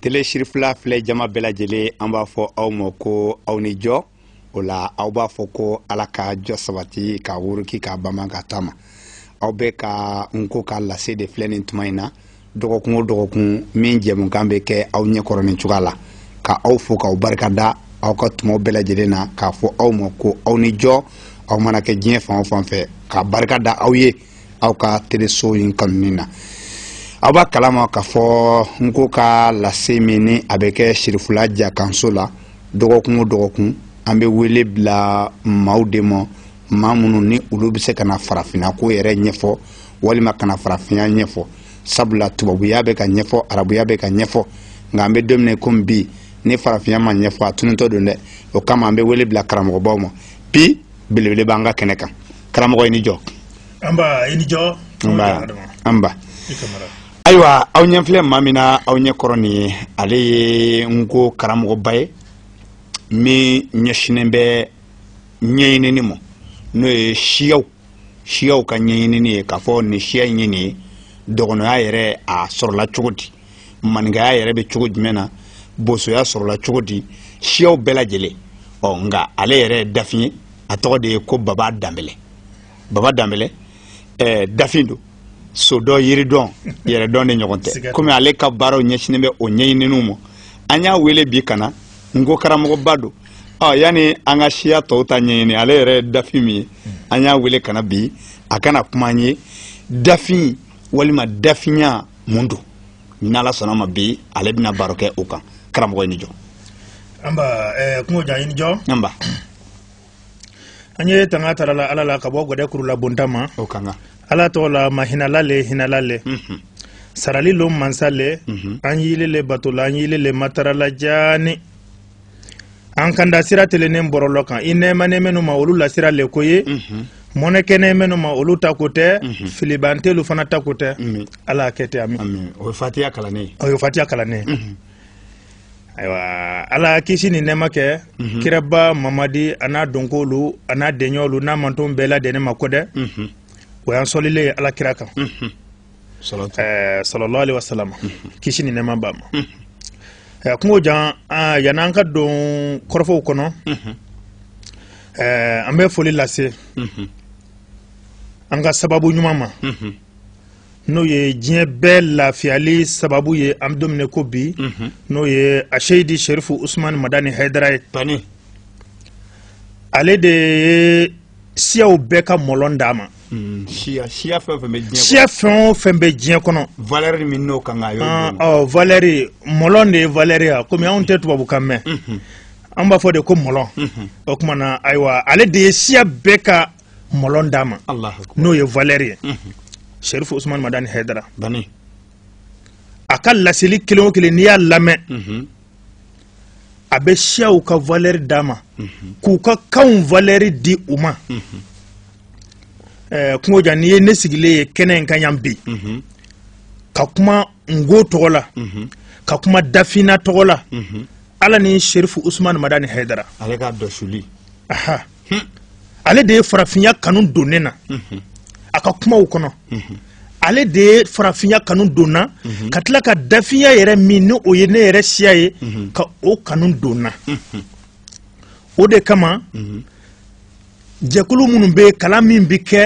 tele sirifila filɛ jama bɛɛ lajɛlen an b'a fɔ aw ma ko aw ni jɔ o la aw b'a fɔ ko ala ka jɔ sabati ka wuruki ka bama ka taama aw bɛ ka n ko ka lase de filɛ nin tuma in na dɔgɔkun o dɔgɔkun min jɛmukan bɛ kɛ aw ɲɛkɔrɔ nin cogoya la ka aw fo k'aw barika da aw ka tumaw bɛɛ lajɛlen na k'a fɔ aw ma ko aw ni jɔ aw mana kɛ diɲɛ fan o fan fɛ ka barika da aw ye aw ka teleso in kanuni na aw b'a kalama k'a fɔ n ko ka lase min ni a bɛ kɛ sirifula jakanso la dɔgɔkun o dɔgɔkun an bɛ wele bila maaw de ma maa minnu ni olu bɛ se ka na farafinna ko yɛrɛ ɲɛfɔ walima ka na farafinya ɲɛfɔ sabula tubabuya bɛ ka ɲɛfɔ arabuya bɛ ka ɲɛfɔ nka an bɛ don min komi bi ni farafinya ma ɲɛfɔ a tunutɔ don dɛ o kama an bɛ wele bila karamɔgɔbaw ma bi belebele b'an ka kɛnɛ kan karamɔgɔ i ni jɔ anba i ni jɔ anba anba ayiwa aw ɲɛ filɛ maa min na aw ɲɛ kɔrɔ nin ye ale ye n ko karamɔgɔba ye min ɲɛsinnen bɛ ɲɛɲinini ma n'o ye siyaw siyaw ka ɲɛɲinini ye k'a fɔ nin siya in ye nin ye dɔgɔnɔya yɛrɛ a sɔrɔla cogo di maninkaya yɛrɛ bɛ cogo jumɛn na bosoya sɔrɔla cogo di siyaw bɛɛ lajɛlen ɔ nka ale yɛrɛ ye dafin ye a tɔgɔ de ye ko baba danbɛlɛ baba danbɛlɛ ɛɛ dafin don sodɔn yiridɔn yɛrɛdɔn de ɲɔgɔn tɛ komi ale ka baaraw ɲɛsinnen bɛ o ɲɛɲininiw ma an y'a wele bi ka na n ko karamɔgɔba don ɔ yanni an ka siya tɔw ta ɲɛɲini ale yɛrɛ ye dafin min ye an y'a wele ka na bi a ka na kuma an ye dafin walima dafinya mun don n'ala sɔnna ma bi ale bɛna baro kɛ o kan karamɔgɔ i ni jɔ anba ɛɛ eh, kungo jan i ni jɔ anba an ye tanga tara la ala la ka bɔ gɛdɛ kurulabonta ma o kan ka ala tɔgɔ la mahinala le hinala le mhm. sarali lon mansa le mhm. an y'ile le bato la an y'ile le matara la jaani an kanda sira telennen bɔrɔlɔ kan i nɛɛmanen minnu ma olu la sira le ko ye mhm. mɔnɛ kɛnɛn minnu ma olu ta ko tɛ mhm. filibantelu fana ta ko tɛ mhm. ala y'a kɛ ten ami o ye fatiya kalannen ye o ye fatiya kalannen ye ayiwa ala ye kisi ni nɛɛma kɛ kiraba mamadi a n'a dɔnkolu a n'a dɛɲɔɔlu n'a manton bɛɛ ladɛnnen ma ko dɛ o y'an sɔlilen ye ala kira kan sallallahu alaihi wasallam kisi ni nɛɛma b'a ma eh, kungo jan ah, yanni an ka don kɔrɔfɔw kɔnɔ eh, an bɛ foli lase an ka sababu ɲuman ma n'o ye diɲɛ bɛɛ lafiyali sababu ye an bɛ don min n'i ko bi mhm. n'o ye aseyidi sherifu usumani madani hayidara ye ale de ye siyaw bɛɛ ka mɔlɔn d'a ma Mm, siya siya fɛn o fɛn bɛ diɲɛ kɔnɔ siya fɛn o fɛn bɛ diɲɛ kɔnɔ valeur min n'o kan ka y'o ah, don ɔ valeur mɔlɔn de ye valeur ye komi anw tɛ tubabukan mɛn mhm. an b'a fɔ de ko mɔlɔn mhm. o tuma na ayiwa ale de ye siya bɛɛ ka mɔlɔn d'a ma n'o ye valeur ye mhm. serifu usumani madani hɛdara a ka laseli kelen o kelen n'i y'a lamɛn a bɛ siyaw ka valɛri d'a ma k'u ka kanw valɛri di u ma eh, kungo jan n'i ye ne sigilen ye kɛnɛ in kan yan bi ka kuma nko tɔgɔ la ka kuma dafina tɔgɔ la ala ni sherifu usumani madani haidara ale ka dɔsuli hmm. ale de ye farafinya kanu don ne na mhm. a ka kumaw kɔnɔ mhm. ale de ye farafinya kanu don n na mhm. ka tila ka dafinya yɛrɛ min ni o ye ne yɛrɛ siya ye ka o kanu don n na o de kama jɛkulu minnu bɛ kalan min bɛ kɛ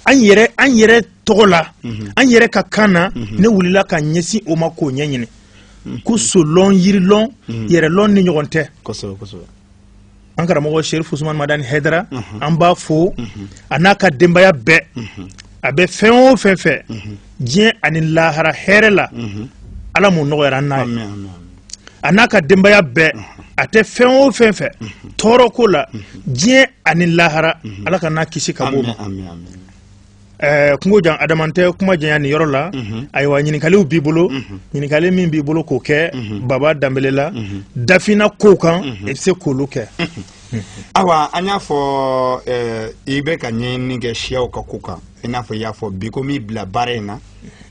an yɛrɛ an yɛrɛ tɔgɔ la an yɛrɛ ka kan na ne wulila ka ɲɛsin o ma k'o ɲɛɲini ko solɔn yirilɔn yɛrɛlɔnni ɲɔgɔn tɛ an karamɔgɔ sherif usman madani hedra mhm. an b'a fo mhm. a n'a ka denbaya bɛɛ mhm. a bɛ fɛn o fɛn fɛ diɲɛ ani lahara hɛrɛ la ala m'o nɔgɔyara an n'a ye a n'a ka denbaya bɛɛ a tɛ fɛn o fɛn fɛ tɔɔrɔ ko la diɲɛ ani lahara ala k'an n'a kisi ka b'o ma Eh, kungo jan adama n tɛ kuma janya nin yɔrɔ la mhm. ayiwa ɲininkaliw b'i bolo mhm. ɲininkali min b'i bolo k'o kɛ mhm. baba danbele la dafina kow kan i bɛ se k'olu kɛ awa an y'a fɔ eh, i bɛ ka ɲɛɲini kɛ siyaw ka ko kan i n'a fɔ i y'a fɔ bi ko min y'i bila baara in na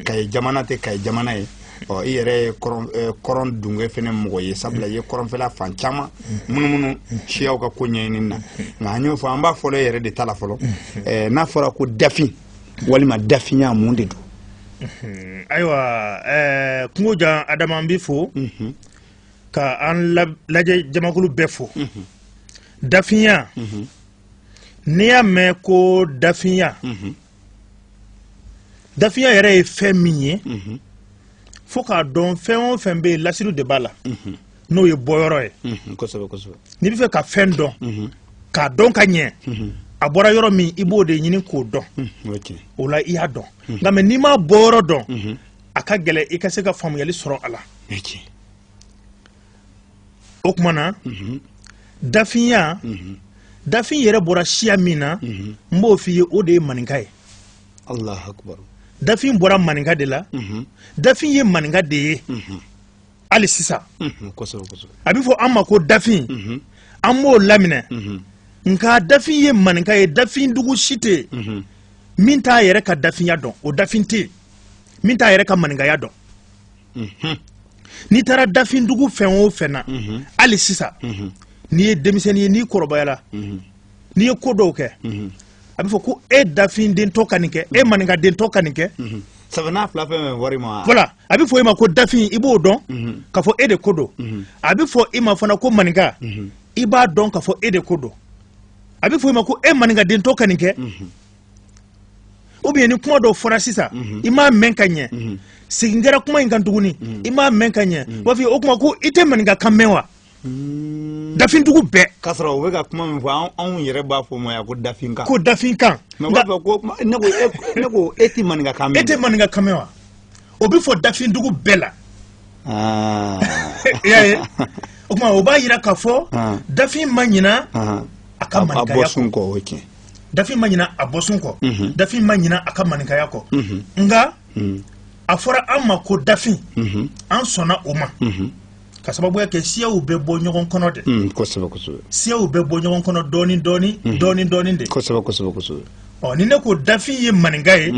kayi jamana tɛ kayi jamana ye ɔ i yɛrɛ ye kɔrɔn eh, dunge fɛnɛ mɔgɔ ye sabula i ye kɔrɔnfɛla fan caman munumunu siyaw ka ko ɲɛɲini na nka an y'o fɔ an b'a fɔlɔ e yɛrɛ de ta la fɔlɔ eh, n'a fɔra ko dafin walima dafinya mun de don ayiwa eh, kungo jan adama an b'i fo mhm. ka an lajɛ jamakulu bɛɛ fo mhm. dafinya mhm. n'i y'a mɛn ko dafinya dafinya yɛrɛ ye fɛn min ye mhm. fo k'a dɔn fɛn o fɛn bɛ yen lasiriw de b'a la mhm. n'o ye bɔyɔrɔ ye mhm, n'i bɛ fɛ ka fɛn dɔn k'a dɔn ka ɲɛ a bɔra yɔrɔ min i b'o de ɲini k'o dɔn o la i y'a dɔn nka mɛ n'i m'a bɔyɔrɔ dɔn a ka gɛlɛn i ka se ka faamuyali sɔrɔ a la o tuma na mhm. dafinya mhm. dafin yɛrɛ bɔra siya min na mhm. n b'o f'i ye o de ye maninka ye dafin bɔra maninka de la dafin ye maninka de ye hali sisan a bɛ fɔ an ma ko dafin an b'o laminɛ nka dafin ye maninka ye dafin dugu si tɛ yen min t'a yɛrɛ ka dafinya dɔn o dafin tɛ yen min t'a yɛrɛ ka maninkaya dɔn n'i taara dafin dugu fɛn o fɛn na hali sisan n'i ye denmisɛnnin ye n'i kɔrɔbayala n'i ye ko dɔw kɛ a bɛ fɔ ko e dafin dentɔ ka nin kɛ e maninka dentɔ ka nin kɛ sabanan fila fɛn fɛn wari ma voilà a bɛ fɔ i ma ko dafin i b'o dɔn k'a fɔ e de ko don a bɛ fɔ i ma fana ko maninka i b'a dɔn k'a fɔ e de ko don a bɛ fɔ i ma ko e maninka dentɔ ka nin kɛ ou bien ni kuma dɔw fɔra sisan mhm. i m'a mɛn ka ɲɛ mhm. segin kɛra kuma in kan tuguni mhm. i m'a mɛn ka ɲɛ u b'a f'i ye o kuma ko i tɛ maninka kan mɛn wa hmm. dafindugu bɛɛ k'a sɔrɔ u bɛ ka kuma min fɔ anw yɛrɛ b'a fɔ o ma yan ko dafinkan ko dafinkan mɛ u b'a fɔ ko ne ko e tɛ maninka kan mɛn e tɛ maninka kan mɛn wa o bɛ fɔ dafindugu bɛɛ la ah. i y'a ye o kuma o b'a jira k'a fɔ ah. dafin ma ɲina ah. a ka maninkaya kɔ o ye tiɲɛ dafin ma ɲina a bɔsun kɔ mhm. dafin ma ɲina a ka maninkaya kɔ mhm. nka mhm. a fɔra an ma ko dafin an sɔnna o ma ka sababuya kɛ siyaw bɛ bɔ ɲɔgɔn kɔnɔ de mm, kosɛbɛ kosɛbɛ siyaw bɛ bɔ ɲɔgɔn kɔnɔ dɔɔni dɔɔni dɔɔni dɔɔni de kosɛbɛ kosɛbɛ kosɛbɛ ɔ ni ne ko dafin ye maninka ye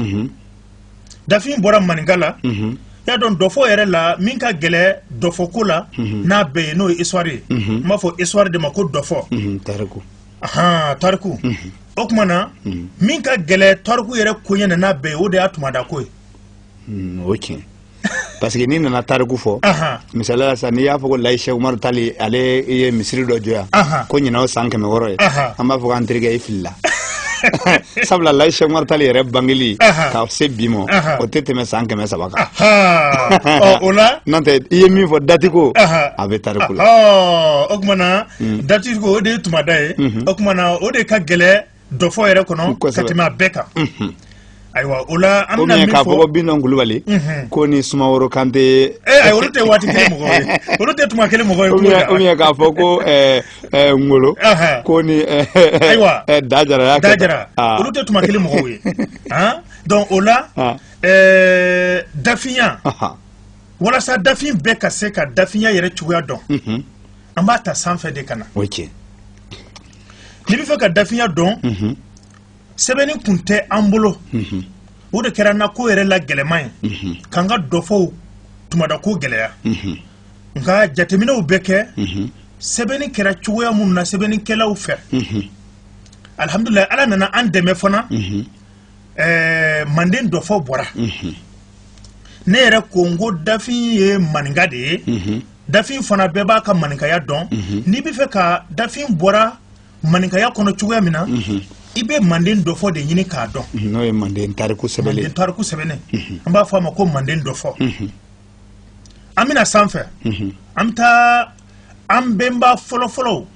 dafin bɔra maninka la y'a dɔn dɔfɔ yɛrɛ la min ka gɛlɛ dɔfɔ ko la n'a bɛɛ ye n'o ye histoire ye n b'a fɔ histoire de ma ko dɔfɔ tariku ahan tariku o tuma na min ka gɛlɛ tariku yɛrɛ koɲɛ na n'a bɛɛ ye o de y'a tumada ko ye o tiɲɛ parce que n'i nana tariku fɔ misali la sisan n'i y'a fɔ ko layi sɛk umaru tali ale ye misiri dɔ jɔ yan ko ɲinan o san kɛmɛ wɔɔrɔ ye an b'a fɔ k'an terikɛ i filila sabula layi sɛk umaru tali yɛrɛ bangeli ka se bi ma o tɛ tɛmɛ san kɛmɛ saba kan o la n'o tɛ i ye min fɔ dati ko a bɛ tariku la o tumana dati ko o de ye tumada ye o tumana o de ka gɛlɛ dɔfɔ yɛrɛ kɔnɔ ka tɛmɛ a bɛɛ kan ayiwa o la an bɛna min fɔ k'a fɔ ko bintɔn kulubali ko ni sumaworo kante ee ayi olu tɛ waati kelen mɔgɔ ye olu tɛ tuma kelen mɔgɔ ye ko la ou bien k'a fɔ ko ngolo ko ni ayiwa dajara y'a kɛ dajara olu tɛ tuma kelen mɔgɔw ye donc o la dafinya walasa dafin bɛɛ ka se ka dafinya yɛrɛ cogoya dɔn an b'a ta sanfɛ de ka na o tiɲɛ n'i bɛ fɛ ka dafinya dɔn sɛbɛnni kun tɛ an bolo o de kɛra n na ko yɛrɛ la gɛlɛman ye k'an ka dɔfɔw tumada ko gɛlɛya nka jateminɛw bɛ kɛ sɛbɛnni kɛra cogoya minnu na sɛbɛnnikɛlaw fɛ alihamdulilayi ala nana an dɛmɛ fana ɛɛ manden dɔfɔ bɔra ne yɛrɛ ko n ko dafin ye maninka de ye dafin fana bɛɛ b'a ka maninkaya dɔn mhm. n'i bɛ fɛ ka dafin bɔra maninkaya kɔnɔ cogoya min na mhm. i bɛ manden dɔfɔ de ɲini k'a dɔn mhm, n'o ye manden tariku sɛbɛnnen manden tariku sɛbɛnnen an b'a fɔ a ma ko manden dɔfɔ an bɛna sanfɛ an bɛ taa an bɛnba fɔlɔfɔlɔw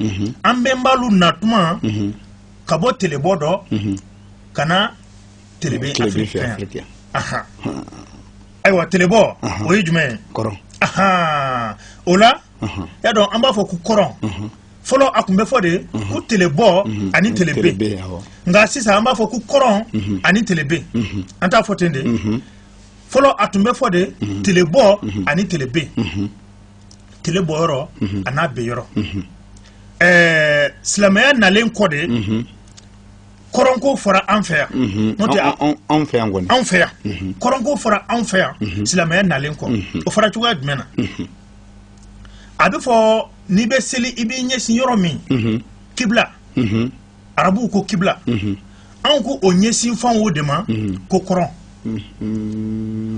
an bɛnbalu na tuma ka bɔ telebɔ dɔ ka na telebe afiriki fɛ yan ayiwa telebɔ o ye jumɛn ye kɔrɔn o la y'a dɔn an b'a fɔ ko kɔrɔn fɔlɔ a tun bɛ fɔ de ko telebɔ ani telebe nka sisan an b'a fɔ ko kɔrɔn ani telebe an t'a fɔ ten de fɔlɔ a tun bɛ fɔ de telebɔ ani telebe tele bɔ yɔrɔ an'a be yɔrɔ ɛɛ silamɛya nalen kɔ de kɔrɔnko fɔra an fɛ yan mhm. n'o tɛ anw fɛ yan kɔni anw fɛ yan mhm. kɔrɔnko fɔra anw fɛ yan mhm. silamɛya nalen kɔ o fɔra cogoya jumɛn na a bɛ fɔ n'i bɛ seli i b'i ɲɛsin yɔrɔ min kibla arabuw ko kibla anw ko o ɲɛsin fan o de ma ko kɔrɔn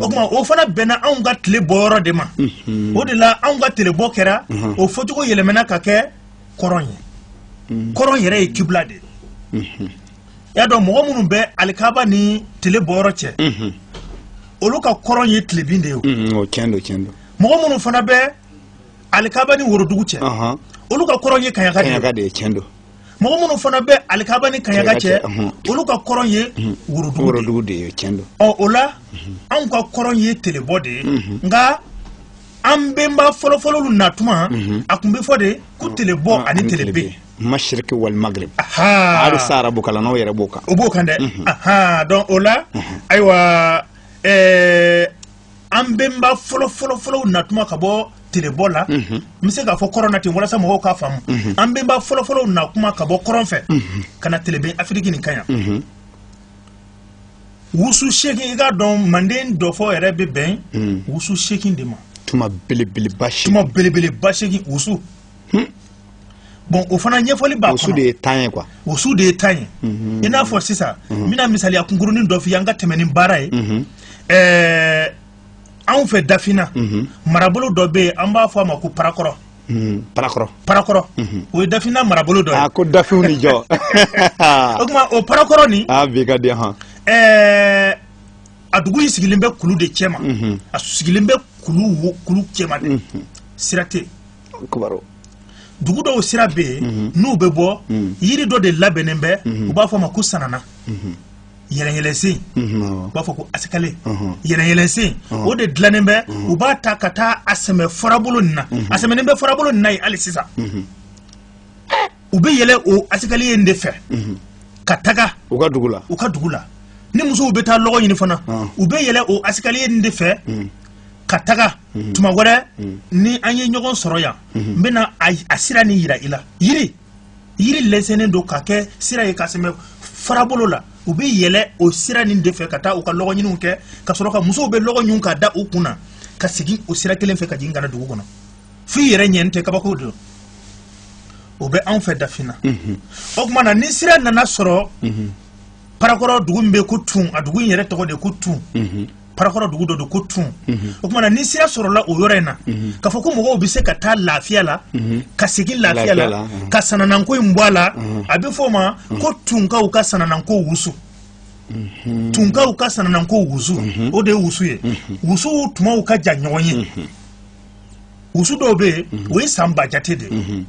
o kuma o fana bɛnna anw ka tile bɔ yɔrɔ de ma o de la anw ka tile bɔ kɛra o fɔcogo yɛlɛmana ka kɛ kɔrɔn ye mhm. kɔrɔn yɛrɛ ye kibla de ye mhm. y'a dɔn mɔgɔ minnu bɛ alikaba ni tile bɔyɔrɔ cɛ mhm. olu ka kɔrɔn ye tilebin de ye mɔgɔ minnu fana bɛ alikaba ni worodugu cɛ olu ka kɔrɔn ye kaɲaka de ye mɔgɔ minnu fana bɛ alikaba ni kaɲaka cɛ olu ka kɔrɔn ye worodugu de ye ɔ o la anw ka kɔrɔn ye telebɔ de ye nka an bɛnba fɔlɔfɔlɔlu na tuma mhm. a tun bɛ fɔ de ko mm. telebɔ mm, ani telebe mashiriki wal magrib hali sa arabu kalannaw yɛrɛ b'o kan o b'o kan dɛ mhm. donc o la mhm. ayiwa eh, an bɛnba fɔlɔfɔlɔfɔlɔw na tuma ka bɔ telebɔ la n bɛ se k'a fɔ kɔrɔn na ten walasa mɔgɔw k'a faamu an bɛnba fɔlɔfɔlɔw na kuma ka bɔ kɔrɔn fɛ ka na telebe afiriki nin kan yan wusu seegin i k'a dɔn manden dɔfɔ yɛrɛ bɛ bɛn hmm. wusu seegin de ma tuma belebeleba seegin tuma belebeleba seegin wusu hmm. bon o fana ɲɛfɔli b'a kɔnɔ wusu de ye temps ye quoi wusu de ye temps ye hmm. i n'a fɔ sisan n bɛna misaliya kunkurunin dɔ f'i ye an ka tɛmɛ ni baara ye ɛɛ anw fɛ dafina marabolo dɔ bɛ yen an b'a fɔ a ma ko parakɔrɔ parakɔrɔ parakɔrɔ o ye dafina marabolo dɔ ye ko dafinw ni jɔ o tuma o parakɔrɔ nin a bi ka di hɔn ɛɛ a dugu in sigilen bɛ kulu de cɛma a sigilen bɛ kulu kulu cɛma de sira tɛ dugu dɔw sira bɛ yen mhm. n'u bɛ bɔ mhm. yiri dɔ de labɛnnen bɛ mhm. u b'a fɔ a ma ko sanana yɛlɛyɛlɛsen u b'a fɔ ko asikale yɛlɛyɛlɛsen o de dilannen bɛ u b'a ta ka taa a sɛmɛ farabolo nin na a sɛmɛnen bɛ farabolo nin na yen hali sisan u bɛ yɛlɛ o asikale in de fɛ ka taga u ka dugu la u ka dugu la ni musow bɛ taa lɔgɔ ɲini fana u bɛ yɛlɛ o asikale in de fɛ ka taga mhm. tuma wɛrɛ mhm. ni an ye ɲɔgɔn sɔrɔ yan mhm. n bɛna a sira ni yira i la yiri yiri lɛsɛnnen don ka kɛ sira ye ka sɛmɛ farabolo la u bɛ yɛlɛ o sira nin de fɛ ka taa u ka lɔgɔ ɲiniw kɛ ka sɔrɔ ka musow bɛ lɔgɔ ɲun ka da u kun na ka segin o sira kelen fɛ ka jigin ka na dugu kɔnɔ fo i yɛrɛ ɲɛ ni tɛ kabako don o bɛ anw fɛ dafina o tuma na ni sira nana sɔrɔ parakɔrɔ dugu min bɛ ko tun a dugu in yɛrɛ tɔgɔ de ko tun parakɔrɔ dugu dɔ don ko tun mhm. o tuma na ni sira sɔrɔla o yɔrɔ in na mhm. k'a fɔ ko mɔgɔw bɛ se ka taa lafiya la mhm. ka segin lafiya la ka sanananko in bɔ a la a bɛ fɔ o ma ko tunkaw ka sanananko wusu tunkaw ka sanananko wusu o de ye wusu ye wusuw tumaw ka jan ɲɔgɔn ye wusu dɔw bɛ yen o ye san ba jate de ye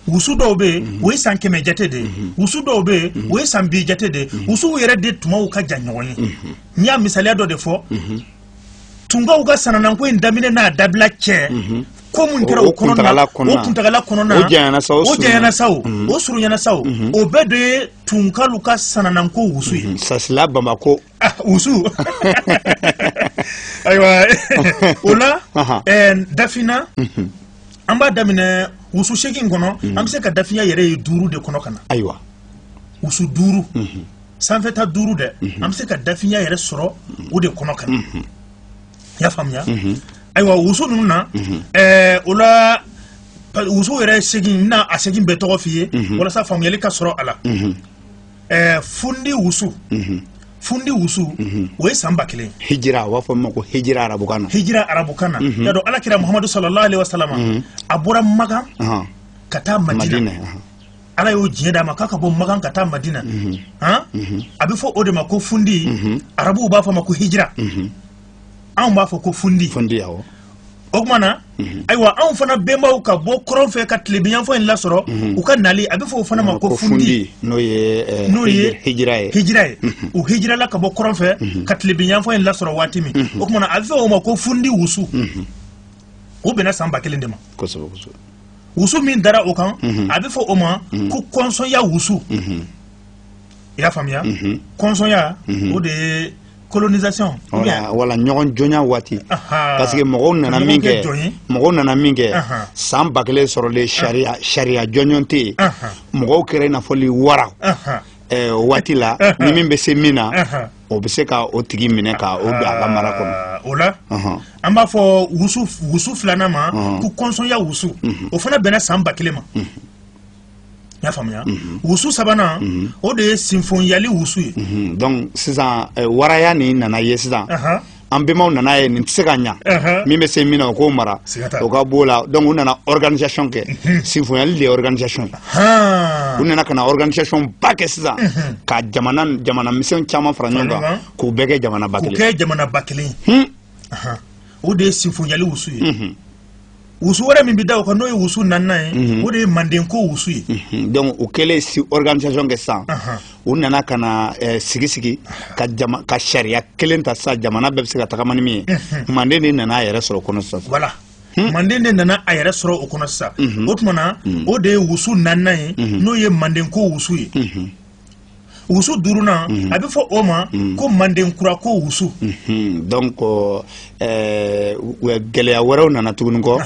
wusu dɔw bɛ yen mhm. o ye san kɛmɛ jate de ye mhm. wusu dɔw bɛ yen mhm. o ye san bi jate de ye wusuw yɛrɛ de tumaw ka jan ɲɔgɔn ye n y'a misaliya dɔ de fɔ tunkaw ka sanananko in daminɛ n'a dabila cɛ ko mun kɛra o kɔnɔna na o kuntagala kɔnɔna na o janyana sa o janyana sa o o surunyana sa o o bɛɛ de ye tunkalu ka sanananko wusu ye sasila bamako Ah, wusu ayiwa o la Aha. eh, dafina an b'a daminɛ wusu seegin kɔnɔ an bɛ se ka dafinya yɛrɛ ye duuru de kɔnɔ ka na ayiwa wusu duuru sanfɛta duuru dɛ an bɛ se ka dafinya yɛrɛ sɔrɔ o de kɔnɔ ka na i y'a faamuya ayiwa wusu ninnu na eh, o la pa- wusu yɛrɛ seegin n na a seegin bɛɛ tɔgɔ f'i ye walasa faamuyali ka sɔrɔ a la ɛɛ fundi wusu mhm. fundi wusu mhm. o ye san ba kelen hijira u b'a fɔ min ma ko hijira arabukan na hijira arabukan na y'a dɔn alakira muhamadu sallallahu alaihi wa salama a bɔra magan ka taa madina ala y'o diɲɛ d'a ma k'a ka bɔ magan ka taa madina a bɛ fɔ o de ma ko fundi arabuw b'a fɔ ma ko hijira anw b'a fɔ ko fundi fundi awɔ o tuma na mhm. ayiwa anw fana bɛnbaw ka bɔ kɔrɔn fɛ ka tilebiyanfan in lasɔrɔ mhm. u ka nali a bɛ fɔ o fana ma ko fundi n'o ye eh, n'o ye hijira ye hijira ye mhm. u hijirala ka bɔ kɔrɔn fɛ ka tilebiyanfan in lasɔrɔ waati min o tuma na a bɛ fɔ o ma ko fundi wusu o bɛnna san ba kelen de ma kosɛbɛ kosɛbɛ wusu min dara o kan a bɛ fɔ o ma ko kɔnsɔnya wusu i y'a faamuya kɔnsɔnya o de ye colonisation wala wala ɲɔgɔn jɔnya waati parce que mɔgɔw nana min kɛ mɔgɔw nana min kɛ san ba kelen sɔrɔlen sariya sariya jɔnjɔn tɛ yen mɔgɔw kɛra i n'a fɔ wara o waati la ni min bɛ se min na o bɛ se ka o tigi minɛ ka o don a ka mara kɔnɔ o la an b'a fɔ wusu wusu filanan ma ko kɔnsɔnya wusu o fana bɛnna san ba kelen ma y'a faamuya mhm. wusu sabanan mhm. o de ye sinfonyali wusu ye mhm. donc sisan eh, waraya nin nana ye sisan an bɛnbaw nana ye nin tɛ se ka ɲa min bɛ se min na o k'o mara o ka b'o la donc u nana organisation kɛ sinfonyali de ye organisation u nana ka na organisation ba kɛ sisan ka jamana jamana misɛn caman fara ɲɔgɔn kan k'u bɛɛ kɛ jamana ba kelen k'u kɛ jamana ba kelen o de ye sinfonyali wusu ye wusu wɛrɛ min bɛ da o kan n'o ye wusu naaninan ye mhm. o de ye manden ko wusu ye mhm. donc u kɛlen si organisation kɛ sisan u nana ka na eh, sigi sigi ka jama ka sariya kelen ta sisan jamana bɛɛ bɛ se ka tagama ni min ye mhm. manden de nana a yɛrɛ sɔrɔ o kɔnɔ sisan voilà hmm? manden de nana a yɛrɛ sɔrɔ o kɔnɔ sisan o tuma na o de ye wusu naaninan ye n'o ye manden ko wusu ye wusu duurunan mhm. a bɛ fɔ o ma mhm. ko manden kura ko wusu mhm. donc eh, gɛlɛya wɛrɛw nana tuguni kɔ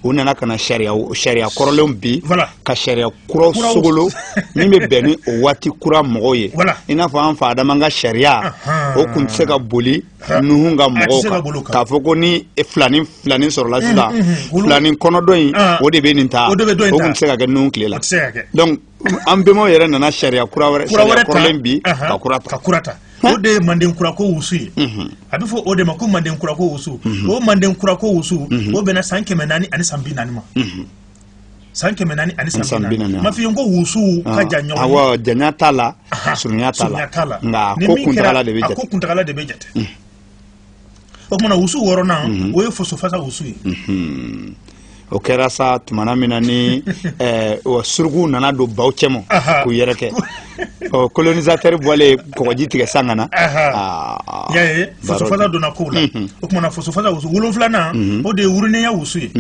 u nana ka na sariya sariya kɔrɔlenw bin ka sariya kuraw sogolo min bɛ bɛn ni o waati kura mɔgɔw ye i n'a fɔ an fa adama ka sariya o tun tɛ se ka boli nuhun ka mɔgɔw kan k'a fɔ ko ni filani filani sɔrɔla sisan filani kɔnɔ dɔ in o de bɛ nin ta o tun tɛ se ka kɛ nuhun tile la donc an bɛnbaw yɛrɛ nana sariya kura wɛrɛ sariya kɔrɔlen bin ka kura ta ka kura ta o de ye manden kura ko wusu ye a bɛ fɔ o de ma ko manden kura ko wusu o manden kura ko wusu o bɛnna san kɛmɛ naani ani san bi naani ma san kɛmɛ naani ani san bi naani ma f'i ye ko wusuw ka jan ɲɔgɔn ye awɔ janya t'a la surunya t'a la nka ko kuntagala de bɛ jate ko kuntagala de bɛ jate o tuma na wusu wɔɔrɔnan mhm. o ye fosofasa wusu ye mhm. o kɛra sa tumana min na ni eh, suruku nana don baw cɛma k'u yɛrɛ kɛ ɔ colonisateur bɔlen kɔgɔji tigɛ san ka na ah, y'a ye fosofasa donna kow la mhm. o tuma na fosofasa wusu wolonfilanan o de ye wurunenya wusu ye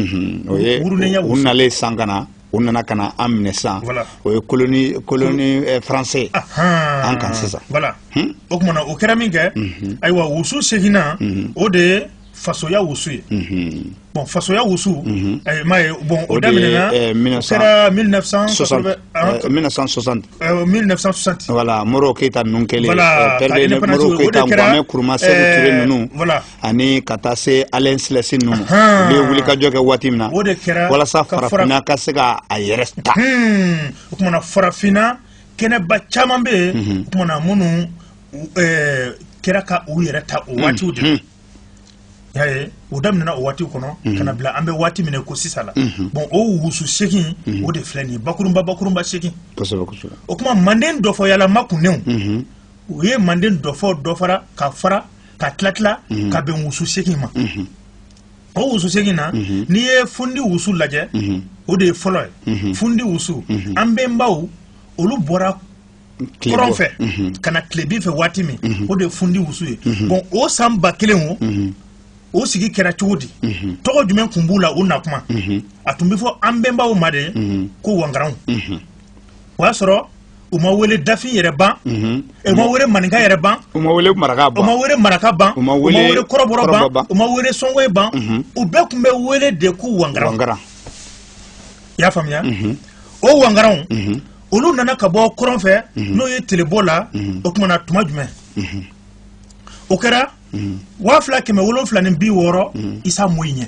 o ye wurunenya wusu u nalen san ka na u nana ka na an minɛ sisan o ye colonie colonie eh, français an kan sisan voilà hmm? o tuma na o kɛra min kɛ mhm. ayiwa wusu seginnan mhm. o de ye fasoya wusu ye mhm. bon fasoya wusu eh, m'a ye bon o daminɛna o eh, kɛra 1960 1960 1960 voilà modibo keyita ninnu kɛlen pɛrɛde modibo keyita kwame nkuruma seku ture ninnu voilà ani ka taa se ayile selasi ninnu ma u bɛ wulikajɔ kɛ waati min na o de kɛra walasa farafinna ka se ka a yɛrɛ ta o tuma na farafinna kɛnɛba caman bɛ yen o tuma na minnu kɛra ka u yɛrɛ ta o waatiw de la y'a ye o daminɛna o waatiw kɔnɔ ka na bila an bɛ waati min ko sisan la bon o wusu segin o de filɛ nin ye bakurunba bakurunba segin o tuma manden dɔfɔyalama kunnenw o ye manden dɔfɔ dɔfara ka fara ka tila tila mhm. ka bɛn wusu segin ma mhm. o wusu segin na mhm. n'i ye fundi wusu lajɛ o de ye fɔlɔ ye fundi wusu an bɛnbaw olu bɔra kɔrɔn fɛ ka na tilebin fɛ waati min o de ye fundi wusu ye bon o san ba kelen o o sigi kɛra cogo di tɔgɔ jumɛn tun b'u la u na kuma a tun bɛ fɔ an bɛnbaw ma de ko wangaranw o y'a sɔrɔ u ma wele dafin yɛrɛ ban mhm. u ma wele maninka yɛrɛ ban u ma wele maraka ban u ma wele maraka ban u ma wele kɔrɔbɔrɔ ban u ma wele sɔngoye ban mhm. u bɛɛ tun bɛ wele de ko wangaran i y'a faamuya mhm. o wangaranw olu nana ka bɔ kɔrɔn fɛ n'o ye telebɔ la o tuma na tuma jumɛn o kɛra waa fila kɛmɛ wolonfila ni bi wɔɔrɔ isa moyi ɲɛ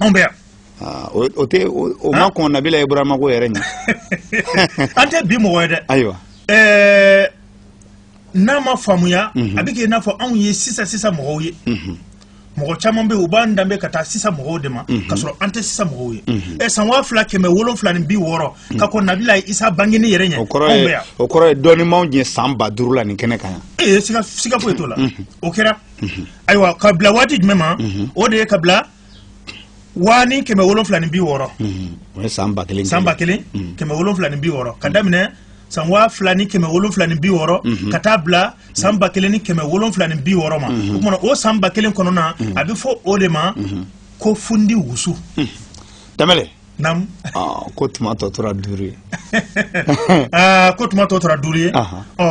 anw bɛ yan ah, o tɛ o ma kɔn nabila ibrahima ko yɛrɛ ɲɛ an tɛ bi mɔgɔ ye dɛ ayiwa eh, n'a ma faamuya mhm. a bɛ kɛ i n'a fɔ anw ye sisan sisan mɔgɔw ye mhm. mɔgɔ caman bɛ yen u b'an danbe ka taa sisan mɔgɔw de ma mhm. ka sɔrɔ an tɛ sisan mɔgɔw ye ɛ eh, san waa fila kɛmɛ wolonfila ni bi wɔɔrɔ ka kɔn nabila isa bangeni yɛrɛ ɲɛ anw bɛ yan o kɔrɔ ye dɔnnimaw ɲɛ san ba duuru la nin kɛnɛ kan yan ee eh, siga foyi t'o la o kɛra ayiwa ka bila waati jumɛn ma o de ye ka bila waa ni kɛmɛ wolonfila ni bi wɔɔrɔ o ye san ba kelen san ba kelen kɛmɛ wolonfila ni bi wɔɔrɔ ka daminɛ san waa fila ni kɛmɛ wolonfila ni bi wɔɔrɔ mhm. ka taa bila san ba kelen ni kɛmɛ wolonfila ni bi wɔɔrɔ ma mhm. o kuma na o san ba kelen kɔnɔna mhm. a bɛ fɔ o de ma ko fundi wusu danbɛlɛ naamu aa ko tuma tɔ tora duuru ye aa ko tuma tɔ tora duuru ye Ahan. ɔ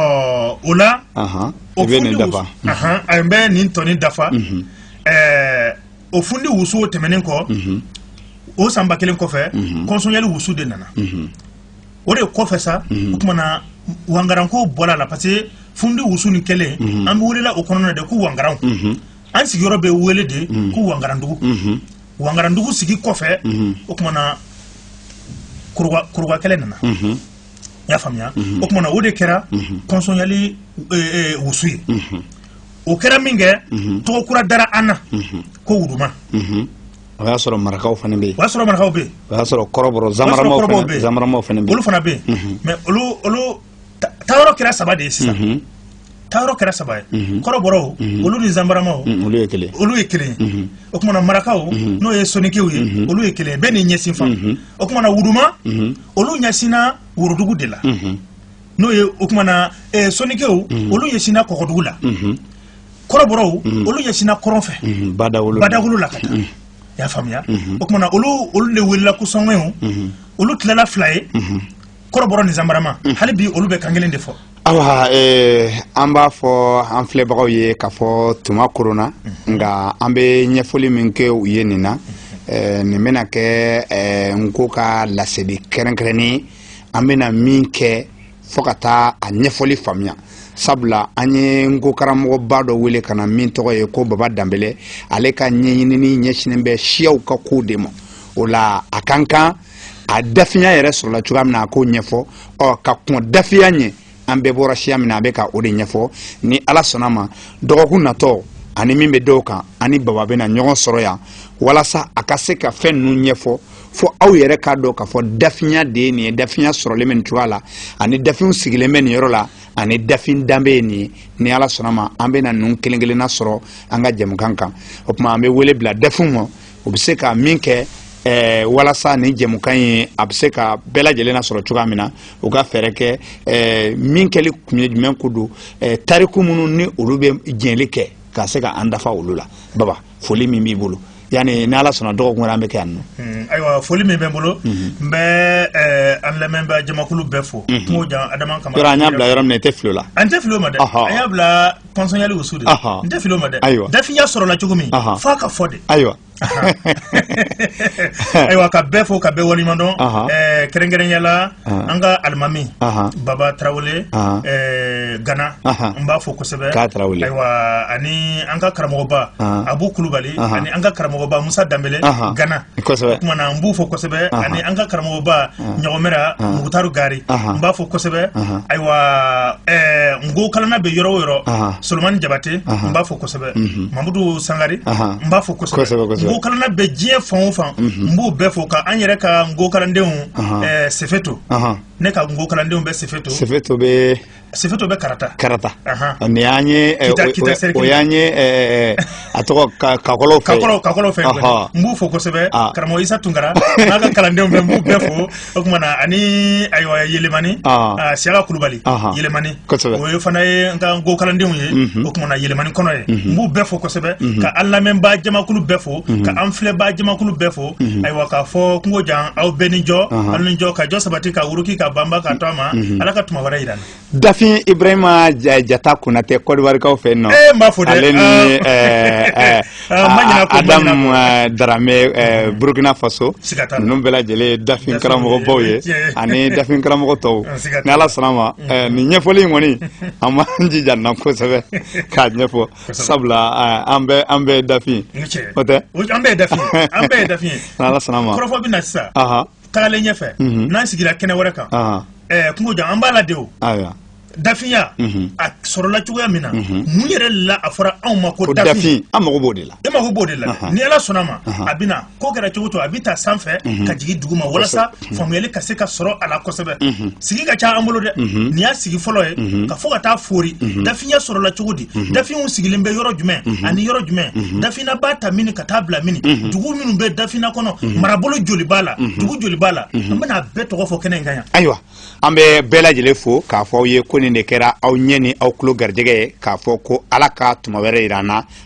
o la Ahan. o i bɛ fundi nin dafa wusu- Ahan, a n bɛ nin tɔni dafa ɛɛ o fundi wusu tɛmɛnen kɔ o san ba kelen kɔfɛ kɔnsɔnyali wusu de nana o de kɔfɛ sa o tuma na wangaranko bɔra a la parce que fundi wusu nin kelen an bɛ welela o kɔnɔna na de ko wangaranw an sigiyɔrɔ bɛ wele de ko wangarandugu wangarandugu sigi kɔfɛ mhm. o kumana kurubakɛlɛ nana mhm. i y'a faamuya mhm. o kumana o de kɛra kɔnsɔnyali e, e, wusu ye o kɛra min kɛ tɔgɔ kura dara an na ko wuduma o y'a sɔrɔ marakaw fana bɛ yen o y'a sɔrɔ marakaw bɛ yen o y'a sɔrɔ kɔrɔbɔrɔ zamaramaw fana bɛ yen olu fana bɛ yen mɛ olu olu taayɔrɔ kɛra saba de ye sisan mhm. taayɔrɔ kɛra saba ye mhm. kɔrɔbɔrɔw mhm. olu ni zanbaramaw olu ye kelen olu ye kelen ye o kumana marakaw n'o ye sonikew ye olu ye kelen ye bɛɛ ni ɲɛsin fan o kumana wuduma olu ɲɛsinna worodugu de la n'o ye o kumana eh, sonikew olu ɲɛsinna kɔgɔdugu la kɔrɔbɔrɔw olu ɲɛsinna kɔrɔn fɛ badawolo la ka taa y'a faamuya o kumana olu olu de welela ko sɔngɔyiw olu tilala fila ye kɔrɔbɔrɔ ni zanbarama mm. hali bi olu bɛ kan kelen de fɔ awa eh, an b'a fɔ an filɛbagaw ye k'a fɔ tuma koronna mm-hmm. nka an bɛ ɲɛfɔli min kɛ u ye nin na mm-hmm. eh, nin bɛna kɛ eh, nko ka laseli kɛrɛnkɛrɛnnen an bɛna min kɛ fo ka taa a ɲɛfɔli faamuya sabula an ye nko karamɔgɔba dɔ wele ka na min tɔgɔ ye ko baba danbele ale ka ɲɛɲinini ɲɛsinnen bɛ siyaw ka kow de ma o la a ka kan a dafinya yɛrɛ sɔrɔla cogoya min na a k'o ɲɛfɔ ɔ ka kɔn dafinya ɲɛ an bɛɛ bɔra siya min na a bɛ ka o de ɲɛfɔ ni ala sɔnn'a ma dɔgɔkun natɔ ani min bɛ da o kan an ni baba bɛna ɲɔgɔn sɔrɔ yan walasa a ka se ka fɛn ninnu ɲɛfɔ fo aw yɛrɛ k'a dɔn k'a fɔ dafinya de ye nin ye dafinya sɔrɔlen bɛ nin cogoya la ani dafinw sigilen bɛ nin yɔrɔ la ani dafin danbe ye nin ye ni ala sɔnn'a ma an bɛna ninnu kelen kelenna sɔrɔ an ka jɛmukan kan o tuma an bɛ wele bila dafinw ma u bɛ se ka min kɛ ɛɛ eh, walasa nin jɛmukan in a bɛ se ka bɛɛ lajɛlen nasɔrɔ cogoya min na u ka fɛɛrɛ kɛ ɛɛ eh, min kɛli kun ye jumɛn ko don ɛɛ eh, tariku minnu ni olu bɛ jɛnli kɛ ka se ka an dafa olu la baba foli min b'i bolo yani ni ala sɔnna dɔgɔkun wɛrɛ an bɛ kɛ yan nɔ hmm, ayiwa foli min bɛ n bolo mhm. n bɛ eh, an lamɛnbaa jamakulu bɛɛ fo mhm. kungo jan adama kamara yɔrɔ an y'a bila yɔrɔ min na i tɛ fili o la an tɛ fili o ma dɛ an y'a bila kɔnsɔnyali wusu de n tɛ fili o ma dɛ dafinya sɔrɔla cogo min f'a ka fɔ de ayiwa ayiwa ka bɛɛ fo ka bɛɛ waleɲuman dɔn kɛrɛnkɛrɛnya la an ka alimami baba tarawele gana n b'a fo kosɛbɛ ayiwa ani an ka karamɔgɔba abu kulubali ani an ka karamɔgɔba musa danbele gana o kumana n b'u fo kosɛbɛ ani an ka karamɔgɔba ɲɔgɔmɛra mugutari gari n b'a fo kosɛbɛ ayiwa nko kalanna bɛ yɔrɔ o yɔrɔ solomani jabate n b'a fo kosɛbɛ mamudu sangari n b'a fo nko kalanna bɛ diɲɛ fan o fan n b'u bɛɛ fo ka an yɛrɛ ka nko kalandenw sefeto ne ka nko kalandenw bɛ sefeto sefeto bɛ sefeto bɛ karata karata nin y'an ye eh, o y'an ye eh, eh, a tɔgɔ kakɔlɔw fɛ kakɔlɔw kakɔlɔw fɛ n b'u fo kosɛbɛ ah. karamɔgɔ isa tunkara n'a ka kalandenw bɛɛ n b'u bɛɛ fo o tuma na ani ayiwa yelemani ah. ah, siyaka kulubali yelemani kosɛbɛ o ye fana ye n ka nko kalandenw ye mhm. o tuma na yelemani kɔnɔ yen mhm. n b'u bɛɛ fo kosɛbɛ mhm. ka an lamɛnbaa jamakulu bɛɛ fo ka an filɛbaa jamakulu bɛɛ fo mhm. ayiwa k'a fɔ kungo jan aw bɛɛ ni jɔ aw ni jɔ ka jɔ sabati ka wuruki ka banba ka to a ma mhm. ala ka tuma wɛrɛ yira an na dafin ibrahima jata konatɛ kɔdiwarikaw fɛ yen nɔ ee eh, n b'a fɔ dɛ ale ni ah. eh, eh, ah, adamu daramɛ mhm. burkina faso ninnu bɛɛ lajɛlen dafin karamɔgɔbaw ye ani dafin karamɔgɔ tɔw ni ala sɔnna ma nin ɲɛfɔli in kɔni an b'an jija nin na kosɛbɛ k'a ɲɛfɔ sabula an bɛɛ an bɛɛ dafin o tɛ an bɛɛ ye dafin an bɛɛ ye dafin ye ni ala sɔnna ma kɔrɔfɔ bɛ na sisan tagalen ɲɛfɛ mhm. n'an sigira kɛnɛ wɛrɛ kan kungo jan an b'a lajɛ o dafinya mhm. a sɔrɔla cogoya min na mhm. mun yɛrɛ la a fɔra anw ma ko dafin an mago b'o de la e mago b'o de la ni ala sɔnna ma a bɛna ko kɛra cogo to a bɛ ta sanfɛ mhm. ka jigin duguma walasa mhm. faamuyali ka se ka sɔrɔ a la kosɛbɛ mhm. sigi ka ca an bolo dɛ nin y'a sigi fɔlɔ ye k'a fɔ ka taa foori dafinya sɔrɔla cogo di dafinw sigilen bɛ yɔrɔ jumɛn ani yɔrɔ jumɛn dafinna b'a ta mini ka taa bila mini dugu minnu bɛ dafinna kɔnɔ marabolo joli b'a la dugu joli b'a la an bɛna a bɛɛ tɔgɔ fɔ kɛnɛ in kan yan ayiwa an bɛ bɛɛ lajɛlen fo k'a fɔ aw ye ko nin de kɛra aw ɲɛ ni aw tulo garijɛgɛ ye k'a fɔ ko ala ka tuma wɛrɛ yira an na